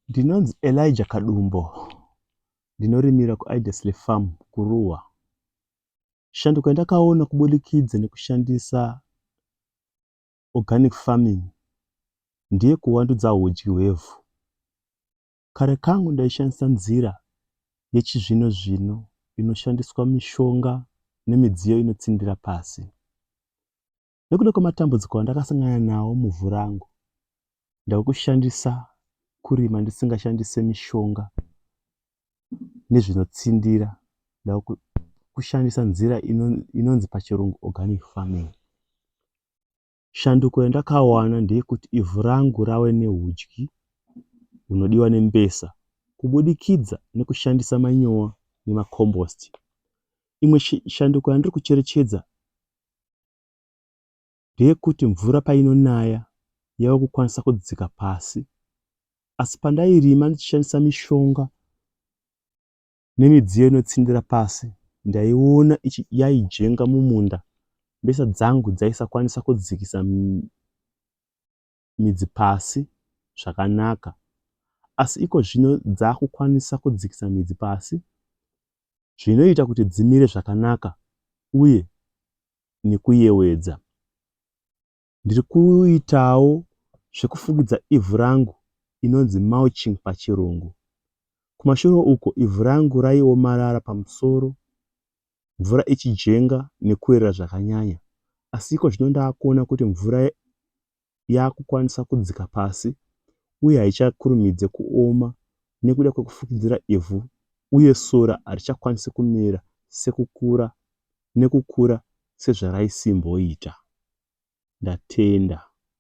Ndinonzi Elijah Kadumbo ndinorimira kuIdesley Farm kuRuwa. Shanduko yandakaona kubudikidza nekushandisa organic farming ndiye kuwandudza hudyi hwevhu. Kare kangu ndaishandisa nzira yechizvino zvino inoshandiswa mishonga nemidziyo inotsindira pasi. nekuda kwematambudziko andakasangana nawo muvhu rangu ndakushandisa kurima ndisingashandise mishonga nezvinotsindira ndakushandisa nzira inonzi pachirungu organic farming shanduko yandakawana ndeyekuti ivhu rangu rave neudyi hunodiwa nembesa kubudikidza nekushandisa manyowa nemacombost imwe shanduko yandiri kucherechedza ndeyekuti mvura painonaya yava kukwanisa kudzika pasi asi pandairima ndichishandisa mishonga nemidziyo inotsindira pasi ndaiona yaijenga mumunda mbesa dzangu dzaisakwanisa kudzikisa midzi pasi zvakanaka asi iko zvino dzakukwanisa kudzikisa midzi pasi zvinoita kuti dzimire zvakanaka uye nekuyewedza. Ndiri kuitawo zvekufukidza ivhu rangu inonzi mulching pachirungu. Kumashure uko ivhu rangu raiomarara pamusoro mvura ichijenga nekuerera zvakanyanya asi iko zvino ndakuona kuti mvura yakukwanisa kudzika pasi uye haichakurumidze kuoma nekuda kwekufukidzira ivhu uye sora harichakwanise kumera sekukura nekukura sezvaraisimboita. Ndatenda.